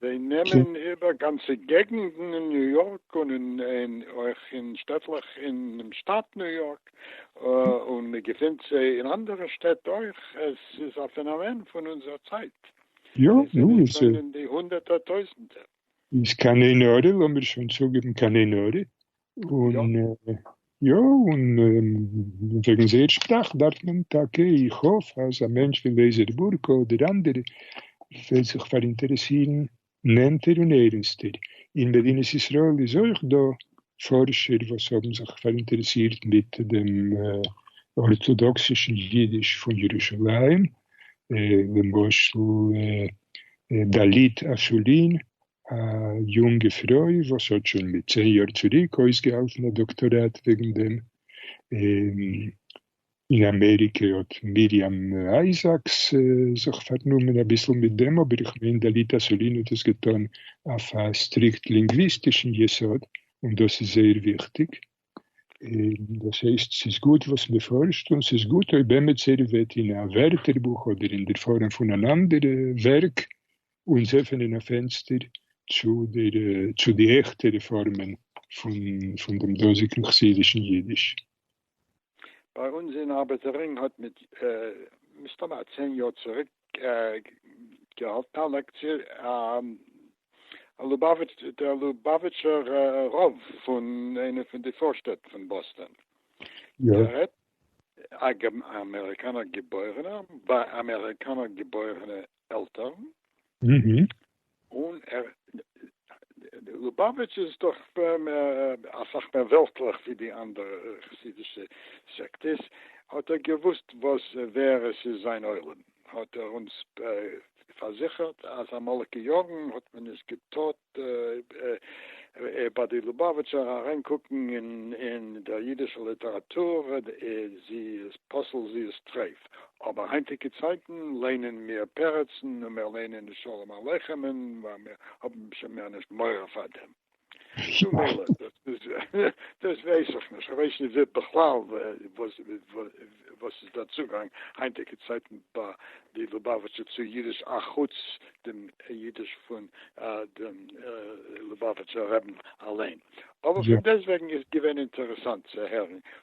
זיי נעמען איבער גאנצע געגנטן אין ניו יארק און אויך אין שטעטלעך אינעם שטאַט ניו יארק, און מען געפינט זיי אין אנדערע שטעט אויך, עס איז א פענאמען פון אונזער צייט, זיי זענען שוין אין די הונדערטער טויזנטער. און יא, און וועגן זייער שפראך דארף מען טאקע, איך האף אז א מענטש פון וועזערבורקא אדער אנדערע וועט זיך פאראינטערעסירן נענטער און ערענסטער. אין מדינת ישראל איז אויך דא פארשער וואס האבן זיך פאראינטערעסירט מיט דעם ארטאדאקסישן אידיש פון ירושלים, למשל דלית אסולין א יונגע פרוי וואס האט שוין מיט צען יאר צוריק אויסגעהאלטן א דאקטאראט וועגן דעם, און אין אמעריקע האט מרים אייזאקס זיך פארנומען אביסל מיט דעם, אבער איך מיין דלית אסולין האט עס געטאן אויף א סטריקט לינגוויסטישן יסוד, און דאס איז זייער וויכטיג. און דאס הייסט ס'איז גוט וואס מ'פארשט, און ס'איז גוט אויב עמיצער וועט אין א ווערטערבוך אדער אין דער פארעם פון אן אנדערע ווערק אונז עפענען א פענסטער צו דער צו די עכטערע פארמען פון פון דעם דאזיגן חסידישן אידיש. ביי אונז אין ארבעטעררינג האט מיט מסתמא א צען יאר צוריק געהאלטן א לעקציע, א לובאוויטש, דער לובאוויטשער רב פון איינע פון די פארשטעט פון באסטאן. יא. א אמעריקאנער געבוירענער, ביי אמעריקאנער געבוירענע עלטערן. און ער, די לובאוויטש איז דאך אסאך מער וועלטליך ווי די אנדערע חסידישע סעקטעס, האט ער געוואוסט וואס ווער עס איז זיין עולם, האט ער אונז פארזיכערט אז אמאליגע יארן האט מען נישט געטארט ביי די לובאוויטשער אריין קוקן אין דער אידישער ליטעראטור, זי איז פסול זי איז טרייף. אבער היינטיגע צייטן ליינען מיר פרצן און מיר ליינען נישט שלום עליכם'ן ווייל מיר האבן שוין מער נישט מורא פאר דעם. נו מילא, דאס ווייס איך נישט, כ'ווייס נישט בכלל וואס איז דער צוגאנג היינטיגע צייטן ביי די לובאוויטשער צו אידיש אחוץ דעם אידיש פון דעם לובאוויטשער רעבן אליין, אבער פון דעסטוועגן איז געווען אינטערעסאנט צו הערן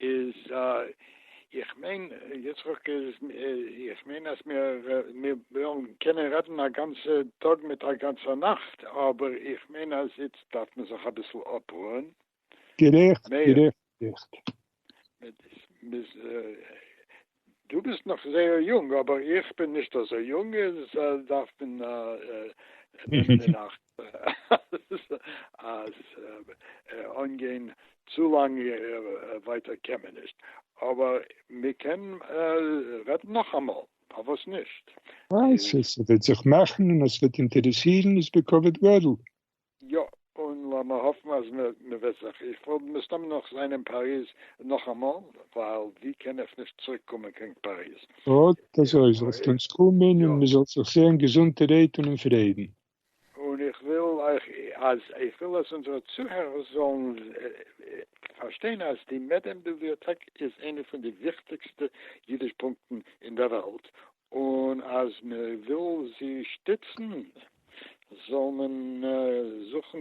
איז איך מיין יצחק איז איך מיין אז מיר וועלן קענען רעדן א גאנצע טאג מיט א גאנצע נאכט, אבער איך מיין אז איצט דארף מען זיך אביסל אפרוען. גערעכט גערעכט גערעכט. דו ביסט נאך זייער יונג, אבער איך בין נישט אזוי יונג, איז דארף מען נעמען אין אכט אז אנגיין צו לאנג ווייטער קען מען נישט, אבער מען קען רעדן נאכאמאל, פארוואס נישט? ווייל ס'וועט זיך מאכן און עס וועט אינטערעסירן איז בכבוד גדול. יא, און לאמיר האפן אז מ'וועט זיך, איך וועל מסתם נאך זיין אין פאריז נאכאמאל, ווייל ווי קען איך נישט צוריק קומען קיין פאריז? אט אזוי, זאלסט אונז קומען און מ'זאל זיך זעהן געזונטע רייד און אין פרידן. און איך וויל אויך אז, איך וויל אז אונזערע צוהערערס זאלן פארשטיין אז די מעדעם ביבליאטעק איז איינע פון די וויכטיגסטע אידיש פונקטן אין דער וועלט, און אז מען וויל זי שטיצן זאל מען זוכן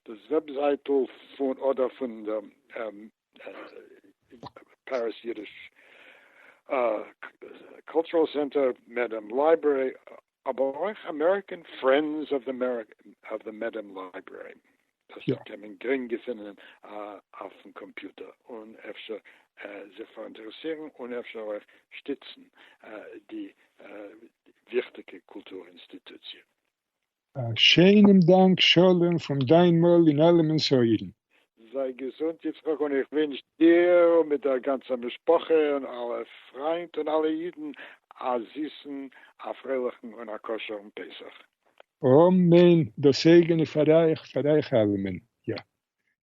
דאס וועבזייטל פון אדער פון פעריס אידיש קולטורעל סענטער, מעדעם לייברערי, אבער אויך אמעריקען פרענדס אוו די מעדעם לייברערי דאס קען מען גרינג געפינען אויפן קאמפיוטער און אפשר זיך פאראינטערעסירן און אפשר אויך שטיצן די וויכטיגע קולטור אינסטיטוציע. א שיינעם דאנק שלום פון דיין מויל אין אלעמענס אויערן. זיי געזונט יצחק און איך ווינטש דיר מיט דער גאנצער משפחה און אלע פריינט און אלע אידן א זיסן א פרייליכן און א כשר'ן פסח. אמן דאס אייגענע פאר אייך פאר אייך אלעמען יא